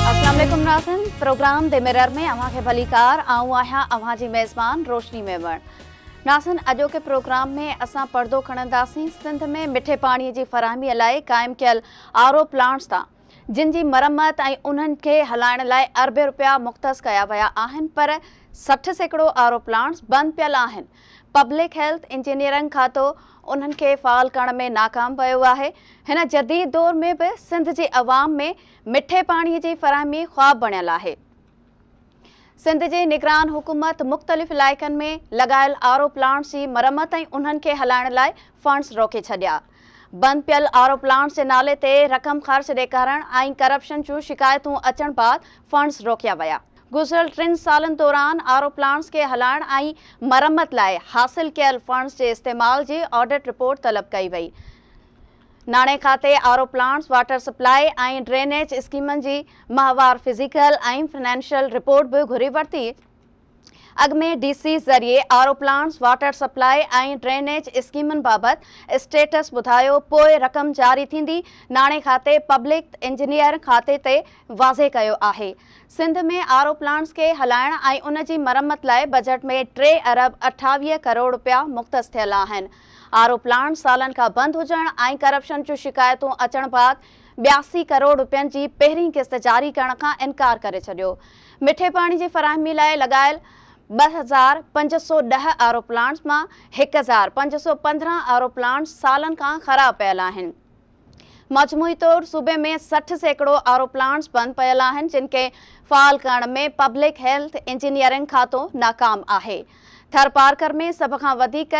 اسلام عليڪم ناظرين پروگرام دي ميرر ۾ اوهان کي ڀليڪار آئون آهيان اوهان جي ميزبان روشني ميمڻ ناظرين اڄوڪي پروگرام ۾ اسان پڙدو کڻنداسين سنڌ ۾ مٺي پاڻي جي فراهمي لاء قائم ڪيل آر او پلانٽس تان جن جي مرمت ۽ انهن کي هلائڻ لاء اربين رپيا مختص ڪيا ويا آهن پر سٺ سيڪڙو آر او پلانٽس بند پيل آهن پبلڪ هيلٿ انجنيئرنگ کاتو انهن کي فعال ڪرڻ ۾ ناڪام ويو آهي، هن جديد دور ۾ به سنڌ جي عوام ۾ مٺي پاڻي جي فراهمي خواب بڻيل آهي، سنڌ جي نگران حڪومت مختلف علائقن ۾ لڳايل آر او پلانٽس جي مرمت ۽ انهن کي هلائڻ لاء فنڊز روڪي ڇڏيا، بند پيل آر او پلانٽس جي نالي تي رقم خرچ ڏيکارڻ ۽ ڪرپشن جون شڪايتون اچڻ بعد فنڊز روڪيا ويا. گذريل ٽن سالن دوران آر او پلانٽس کي هلائڻ ۽ مرمت لاء حاصل ڪيل فنڊز جي استعمال جي آڊٽ رپورٽ طلب ڪئي وئي. ناڻي کاتي R O plants, water supply ۽ drainage اسڪيمن جي ماهوار فزيڪل ۽ فنانشل رپورٽ به گهري ورتي. اڳ ۾ ڊي سي ذريعي R O plants, water supply ۽ drainage اسڪيمن بابت اسٽيٽس ٻڌايو، پوء رقم جاري ٿيندي. ناڻي کاتي پبلڪ انجنيئر کاتي تي واضح ڪيو آهي سنڌ ۾ آر او پلانٽس کي هلائڻ ۽ ان جي مرمت لاء بجيٽ ۾ ٽي ارب اٺاويهه ڪروڙ رپيا مختص ٿيل آهن آر او پلانٽ سالن کان بند هجڻ ۽ ڪرپشن جون شڪايتون اچڻ بعد ٻياسي ڪروڙ رپين جي پهرين قسط جاري ڪرڻ کان انڪار ڪري ڇڏيو مٺي پاڻي جي فراهمي لاء لڳايل ٻه هزار پنج سؤ ڏهه آر او پلانٽس مان هڪ هزار پنج سؤ پندرهن آر او پلانٽس سالن کان خراب پيل آهن. مجموعي طور صوبي ۾ سٺ سيڪڙو آر او پلانٽس بند پيل آهن جن کي فعال ڪرڻ ۾ پبلڪ هيلٿ انجنيئرنگ کاتو ناڪام آهي. ٿرپارڪر ۾ سڀ کان وڌيڪ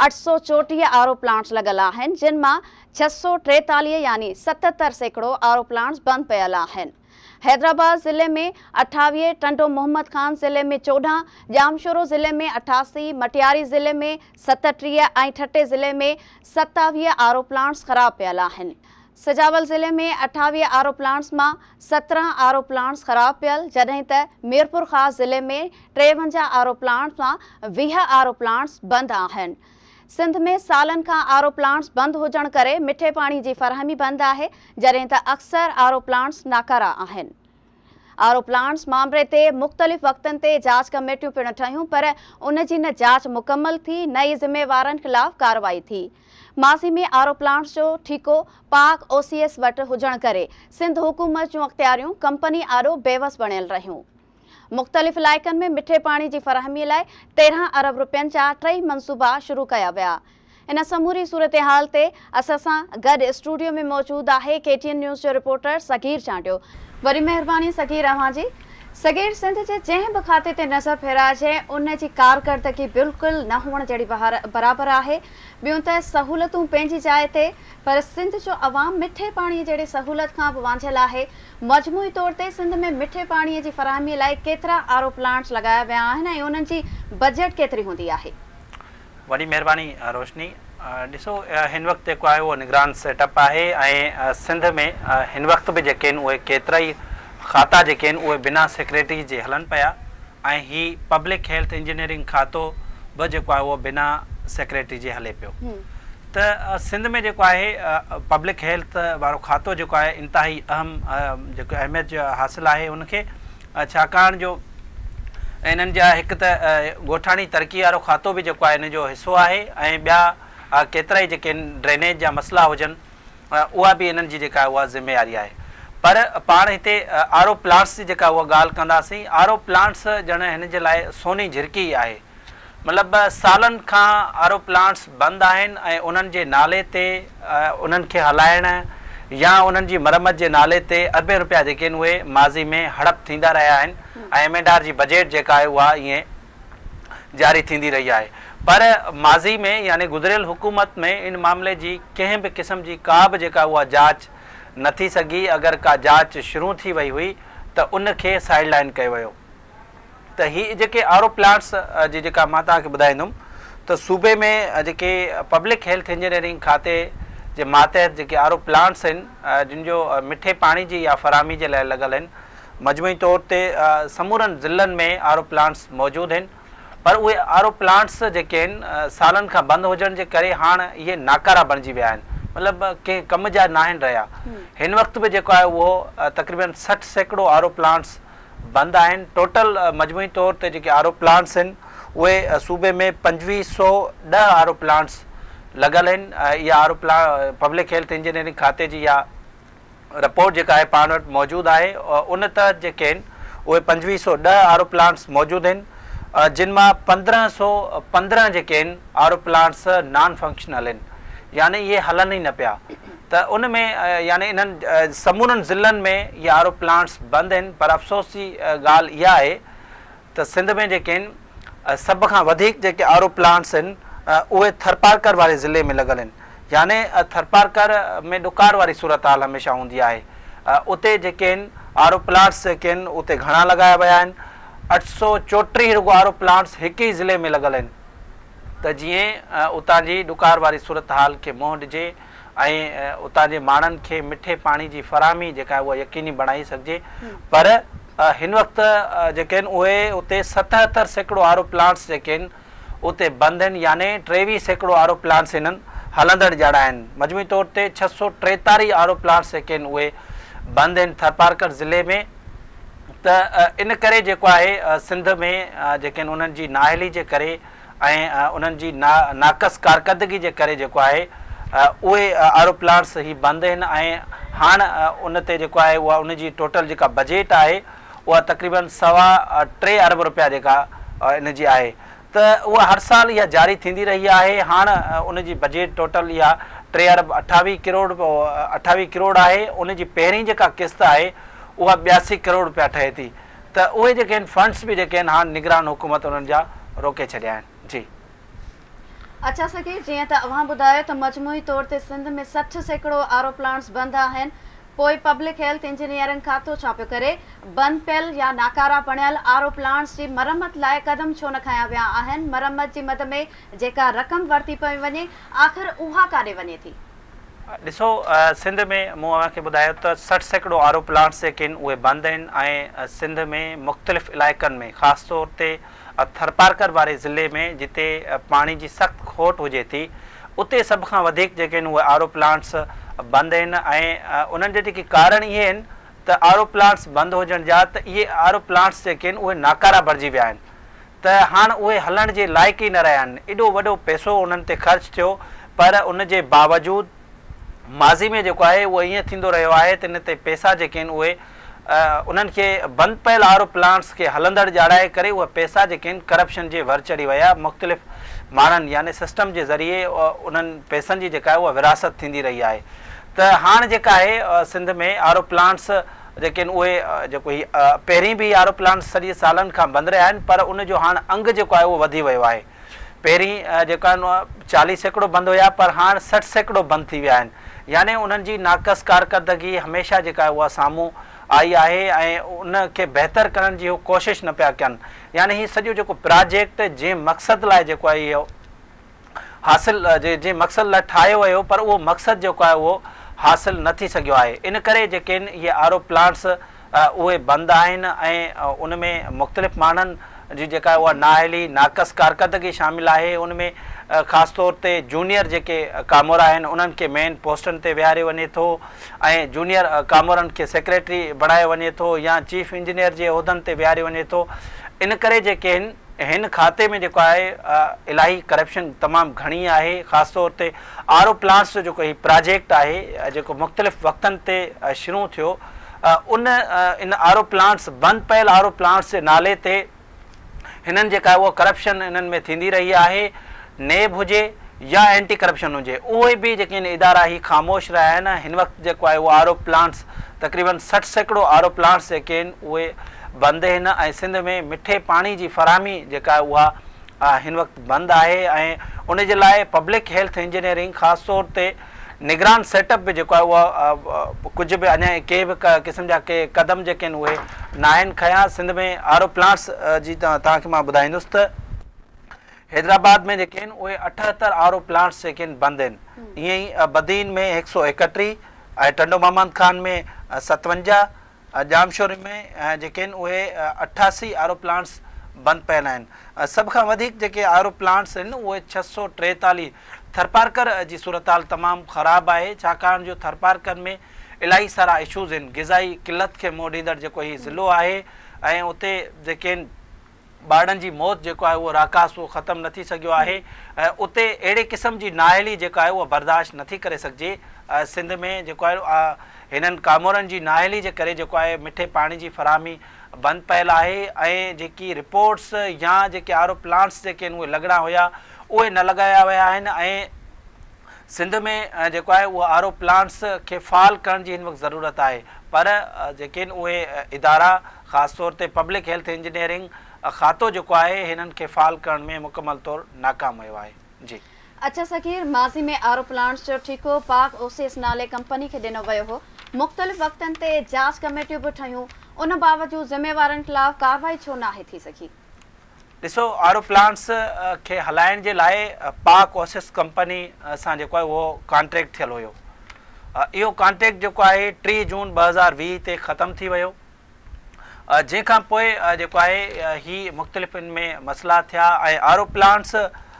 اٺ سؤ چوٽيهه آر او پلانٽس لڳل آهن جن مان ڇهه سؤ ٽيتاليهه يعني ستتر سيڪڙو آر او پلانٽس بند پيل آهن. حيدرآباد ضلعي ۾ اٺاويهه، ٽنڊو محمد خان ضلعي ۾ چوڏهن، ڄامشورو ضلعي ۾ اٺاسي، مٽياري ضلعي ۾ ستٽيهه ۽ ٺٽي ضلعي ۾ ستاويهه آر او پلانٽس خراب پيل آهن. سجاول ضلعي ۾ اٺاويهه آر او پلانٽس مان سترهن آر او پلانٽس خراب پيل جڏهن ته ميرپورخاص ضلعي ۾ ٽيونجاهه آر او پلانٽس مان ويهه آر او پلانٽس بند آهن. سنڌ ۾ سالن کان آر او پلانٽس بند هجڻ ڪري مٺي پاڻي جي فراهمي بند آهي جڏهن ته اڪثر آر او پلانٽس ناڪارا آهن. آر او پلانٽس مامري تي مختلف وقتن تي جاچ ڪميٽيون پڻ ٺهيون پر ان جي نه جاچ مڪمل ٿي نه ئي ذميوارن خلاف ڪارروائي ٿي. ماضي ۾ آر او پلانٽس جو ٺيڪو پاڪ او سي ايس وٽ هجڻ ڪري سنڌ حڪومت جون اختياريون ڪمپني آڏو بيوس بڻيل رهيون. مختلف علائقن ۾ مٺي پاڻي جي فراهمي لاء تيرهن ارب رپين جا ٽئي منصوبا شروع ڪيا ويا. ان سموري صورتحال تي اسان سان گڏ اسٽوڊيو ۾ موجود آهي ڪي ٽي اين نيوز جو رپورٽر صغير چانڊيو. وڏي مهرباني صغير اوهان جي. صغير سنڌ جي جنهن به کاتي تي نظر ڦيرائجي ان جي ڪارڪردگي بلڪل نه هئڻ جهڙي برابر آهي. ٻيون ته سهولتون پنهنجي جاء تي. پر سنڌ جو عوام مٺي پاڻي جهڙي سهولت کان به وانجهيل آهي، مجموعي طور تي سنڌ ۾ مٺي پاڻي جي فراهمي لاء ڪيترا آر او پلانٽس لڳايا ويا آهن ۽ انهن جي بجيٽ ڪيتري هوندي آهي؟ وڏي مهرباني روشني. ڏسو هن وقت جيڪو آهي اهو نگران سيٽ اپ آهي ۽ سنڌ ۾ هن وقت به جيڪي آهن اهي ڪيترائي کاتا جيڪي آهن اهي بنا سيڪريٽري جي هلن پيا ۽ هي پبلڪ هيلٿ انجنيئرنگ کاتو به جيڪو آهي اهو بنا سيڪريٽري جي هلي پيو. ته سنڌ ۾ جيڪو آهي پبلڪ هيلٿ وارو کاتو جيڪو آهي انتهائي اهم جيڪو اهميت جو حاصل آهي ان کي ڇاڪاڻ جو انهن جا هڪ ته ڳوٺاڻي ترقي وارو کاتو به جيڪو آهي ان جو حصو آهي ۽ ٻيا ڪيترائي جيڪي ڊرينيج جا مسئلا هجن اها به انهن جي جيڪا آهي اها ذميواري آهي پر پاڻ هتي آر او پلانٽس جي جيڪا اها ڳالهه ڪنداسين آر او پلانٽس ڄڻ هن جي لاء سوني جهرڪي ئي آهي مطلب سالن کان آرو پلانٽس بند آهن ۽ انهن جي نالي تي انهن کي هلائڻ يا انهن جي مرمت جي نالي تي اربين رپيا جيڪي آهن اهي ماضي ۾ هڙپ ٿيندا رهيا آهن ۽ ايم اينڊ آر جي بجيٽ جيڪا آهي اها ائين جاري ٿيندي رهي آهي پر ماضي ۾ يعني گذريل حڪومت ۾ ان معاملي جي ڪنهن به قسم جي ڪا به جيڪا آهي اها جاچ نه ٿي سگهي اگر ڪا جاچ شرون ٿي وئي هئي ته ان کي سائيڊ لائن ڪيو ويو. ته هي جيڪي آر او پلانٽس جي جيڪا مان توهان کي ٻڌائيندم ته صوبي ۾ جيڪي پبلڪ هيلٿ انجنيئرنگ کاتي جي ماتحت جيڪي آر او پلانٽس آهن جن جو مٺي پاڻي جي يا فراهمي جي لاء لڳل آهن مجموعي طور تي سمورن ضلعن ۾ آر او پلانٽس موجود آهن پر اهي آر او پلانٽس جيڪي آهن سالن کان بند هجڻ جي ڪري هاڻ اهي ناڪارا بڻجي ويا آهن مطلب ڪنهن ڪم جا ناهن رهيا هن وقت به جيڪو آهي اهو تقريبن سٺ سيڪڙو آر او پلانٽس بند آهن ٽوٽل مجموعي طور تي جيڪي آر او پلانٽس آهن اهي صوبي ۾ پنجويهه سؤ ڏهه آر او پلانٽس لڳل آهن اها R O public health engineering کاتي جي اها رپورٽ جيڪا آهي پاڻ وٽ موجود آهي ان تحت جيڪي آهن اهي پنجويهه سؤ ڏهه آر او پلانٽس موجود آهن جن مان پندرهن سؤ پندرهن جيڪي آهن R O plants non functional آهن يعني اهي هلن ئي نه پيا ته ان ۾ يعني انهن سمورن ضلعن ۾ اهي آر او پلانٽس بند آهن پر افسوس جي ڳالهه اها آهي ته سنڌ ۾ جيڪي آهن سڀ کان وڌيڪ جيڪي آر او پلانٽس آهن اهي ٿرپارڪر واري ضلعي ۾ لڳل آهن يعني ٿرپارڪر ۾ ڏڪار واري صورتحال هميشه هوندي آهي اتي جيڪي آهن آر او پلانٽس جيڪي آهن اتي گهڻا لڳايا ويا آهن اٺ سؤ چوٽيهه رڳو آر او پلانٽس هڪ ئي ضلعي ۾ لڳل آهن ته جيئن اتان جي ڏڪار واري صورتحال کي منهن ڏجي ۽ اتان جي ماڻهن کي مٺي پاڻي جي فراهمي جيڪا آهي اها يقيني بڻائي سگهجي پر هن وقت جيڪي آهن اهي اتي ستهتر سيڪڙو آر او پلانٽس جيڪي آهن اتي بند آهن يعني ٽيويهه سيڪڙو آر او پلانٽس هنن هلندڙ جهڙا آهن مجموعي طور تي ڇهه سؤ ٽيتاريهه آر او پلانٽس جيڪي آهن اهي بند آهن ٿرپارڪر ضلعي ۾ ته ان ڪري جيڪو آهي سنڌ ۾ جيڪي آهن انهن جي نااهلي جي ڪري ۽ انهن جي نا ناقص ڪارڪردگي جي ڪري جيڪو آهي اهي آر او پلانٽس هي بند هن ۽ هاڻ ان تي جيڪو آهي اها ان جي ٽوٽل جيڪا بجيٽ آهي اها تقريباً سوا ٽي ارب روپيا جيڪا ان جي آهي ته اها هر سال اها جاري ٿيندي رهي آهي هاڻ ان جي بجيٽ ٽوٽل اها ٽي ارب اٺاويهه ڪروڙ اٺاويهه ڪروڙ آهي ان جي پهرين جيڪا قسط آهي اها ٻياسي ڪروڙ روپيا ٺهي ٿي ته اهي جيڪي آهن فنڊس به جيڪي آهن هاڻ نگران حڪومت انهن جا روڪي ڇڏيا آهن جي. اچا سگهي جيئن ته اوهان ٻڌايو ته مجموعي طور تي سنڌ ۾ سٺ سيڪڙو آر او پلانٽس بند آهن پوء پبلڪ هيلٿ انجنيئرنگ کاتو ڇا پيو ڪري بند پيل يا ناڪارا بڻيل آر او پلانٽس جي مرمت لاء قدم ڇو نه کنيا ويا آهن مرمت جي مد ۾ جيڪا رقم ورتي پئي وڃي آخر اها ڪاڏي وڃي ٿي. ڏسو سنڌ ۾ مون اوهان کي ٻڌايو ته سٺ سيڪڙو آر او پلانٽس جيڪي آهن اهي بند آهن ۽ سنڌ ۾ مختلف علائقن ۾ خاص طور تي ٿرپارڪر واري ضلعي ۾ جتي پاڻي جي سخت کوٽ هجي ٿي اتي سڀ کان وڌيڪ جيڪي آهن اهي آر او پلانٽس بند آهن ۽ انهن جا جيڪي ڪارڻ اهي آهن ته آر او پلانٽس بند هجڻ جا ته اهي آر او پلانٽس جيڪي آهن اهي ناڪارا بڻجي ويا آهن ته هاڻ اهي هلڻ جي لائق ئي نه رهيا آهن. ايڏو وڏو پئسو انهن تي خرچ ٿيو پر ان جي باوجود ماضي ۾ جيڪو آهي اهو ائين ٿيندو رهيو آهي ته ان تي پئسا جيڪي آهن اهي انهن کي بند پيل آر او پلانٽس کي هلندڙ ڄاڻائي ڪري اهي پئسا جيڪي آهن ڪرپشن جي ور چڙهي ويا مختلف ماڻهن يعني سسٽم جي ذريعي انهن پئسن جي جيڪا آهي اها ورهاست ٿيندي رهي آهي ته هاڻ جيڪا آهي سنڌ ۾ آر او پلانٽس ليڪن اهي جيڪو هي پهرين به اهي آروپلان سڄي سالن کان بند رهيا آهن پر ان جو هاڻ انگ جيڪو آهي اهو وڌي ويو آهي پهرين جيڪو آهن اهي چاليهه سيڪڙو بند هيا پر هاڻ سٺ سيڪڙو بند ٿي ويا آهن يعني انهن جي ناقص ڪارڪردگي هميشه جيڪا آهي اها سامهون آئي آهي ۽ ان کي بهتر ڪرڻ جي هو ڪوشش نه پيا ڪن يعني هي سڄو جيڪو پراجيڪٽ جنهن مقصد لاء جيڪو آهي اهو حاصل جي جنهن مقصد لاء ٺاهيو ويو پر اهو مقصد جيڪو آهي اهو حاصل نه ٿي سگهيو آهي ان ڪري جيڪي ان اهي آر او پلانٽس اهي بند آهن ۽ ان ۾ مختلف ماڻهن جي جيڪا آهي اها نااهلي ناقص ڪارڪردگي شامل آهي ان ۾ خاص طور تي جونيئر جيڪي ڪامورا آهن انهن کي مين پوسٽن تي ويهاريو وڃي ٿو ۽ جونيئر ڪامورن کي سيڪريٽري بڻايو وڃي ٿو يا چيف انجنيئر جي عهدن تي ويهاريو وڃي ٿو ان ڪري جيڪي ان هن کاتي ۾ جيڪو آهي الاهي ڪرپشن تمام گهڻي آهي خاص طور تي آر او پلانٽس جو جيڪو هي پراجيڪٽ آهي جيڪو مختلف وقتن تي شرون ٿيو ان ان آر او پلانٽس بند پيل آر او پلانٽس جي نالي تي هنن جيڪا اهو ڪرپشن انهن ۾ ٿيندي رهي آهي نيب هجي يا اينٽي ڪرپشن هجي اهي به جيڪين ادارا هي خاموش رهيا آهن ۽ هن وقت جيڪو آهي اهو آر او پلانٽس تقريبا سٺ سيڪڙو آر او پلانٽس جيڪي آهن اهي بند آهن ۽ سنڌ ۾ مٺي پاڻي جي فراهمي جيڪا آهي اها هن وقت بند آهي ۽ ان جي لاء پبلڪ هيلٿ انجنيئرنگ خاص طور تي نگران سيٽ اپ به جيڪو آهي اهو ڪجهه به اڃا ڪي به قسم جا ڪي قدم جيڪي آهن اهي ناهن کنيا سنڌ ۾ آر او پلانٽس جي توهان کي مان ٻڌائيندس ته حيدرآباد ۾ جيڪي آهن اهي اٺهتر آر او پلانٽس جيڪي آهن بند آهن ائين ئي بدين ۾ هڪ سؤ ايڪٽيهه ۽ ٽنڊو محمد خان ۾ ستونجاهه ڄامشوري ۾ جيڪي آهن اهي اٺاسي آر او پلانٽس بند پيل آهن سڀ کان وڌيڪ جيڪي آر او پلانٽس آهن اهي ڇهه سؤ ٽيتاليهه ٿرپارڪر جي صورتحال تمام خراب آهي ڇاڪاڻ جو ٿرپارڪر ۾ الاهي سارا اشوز آهن غذائي قلت کي منهن ڏيندڙ جيڪو هي ضلعو آهي ۽ اتي جيڪي آهن ٻارڙن جي موت جيڪو آهي اهو راڪاس اهو ختم نه ٿي سگهيو آهي ۽ اتي اهڙي قسم جي نااهلي جيڪا آهي اها برداشت نه ٿي ڪري سگهجي سنڌ ۾ جيڪو آهي هنن ڪامورن جي نااهلي جي ڪري جيڪو آهي مٺي پاڻي جي فراهمي بند پيل آهي ۽ جيڪي رپورٽس يا جيڪي آر او پلانٽس جيڪي آهن اهي لڳڻا هيا اهي نه لڳايا ويا آهن ۽ سنڌ ۾ جيڪو آهي اهو آر او پلانٽس کي فعال ڪرڻ جي هن وقت ضرورت آهي پر جيڪي آهن اهي ادارا خاص طور تي پبلڪ هيلٿ انجنيئرنگ کاتو جيڪو آهي هنن کي فعال ڪرڻ ۾ مڪمل طور ناڪام ويو آهي جي. اچ صغير، ماضي ۾ آر او پلانٽس جو ٺيڪو پاڪ اوسيس نالي ڪمپني کي ڏنو ويو هو، مختلف وقتن تي جاچ ڪميٽيون به ٺهيون، ان باوجود ذميوارن خلاف ڪارروائي ڇو ناهي ٿي سگهي؟ ڏسو آر او پلانٽس کي هلائڻ جي لاء پاڪ اوسس ڪمپني سان جيڪو آهي اهو ڪانٽريڪٽ ٿيل هيو اهو ڪانٽريڪٽ جيڪو آهي ٽي جون ٻه هزار ويهه تي ختم ٿي ويو جنهن کان پوء جيڪو آهي هي مختلف ان ۾ مسئلا ٿيا ۽ آر او پلانٽس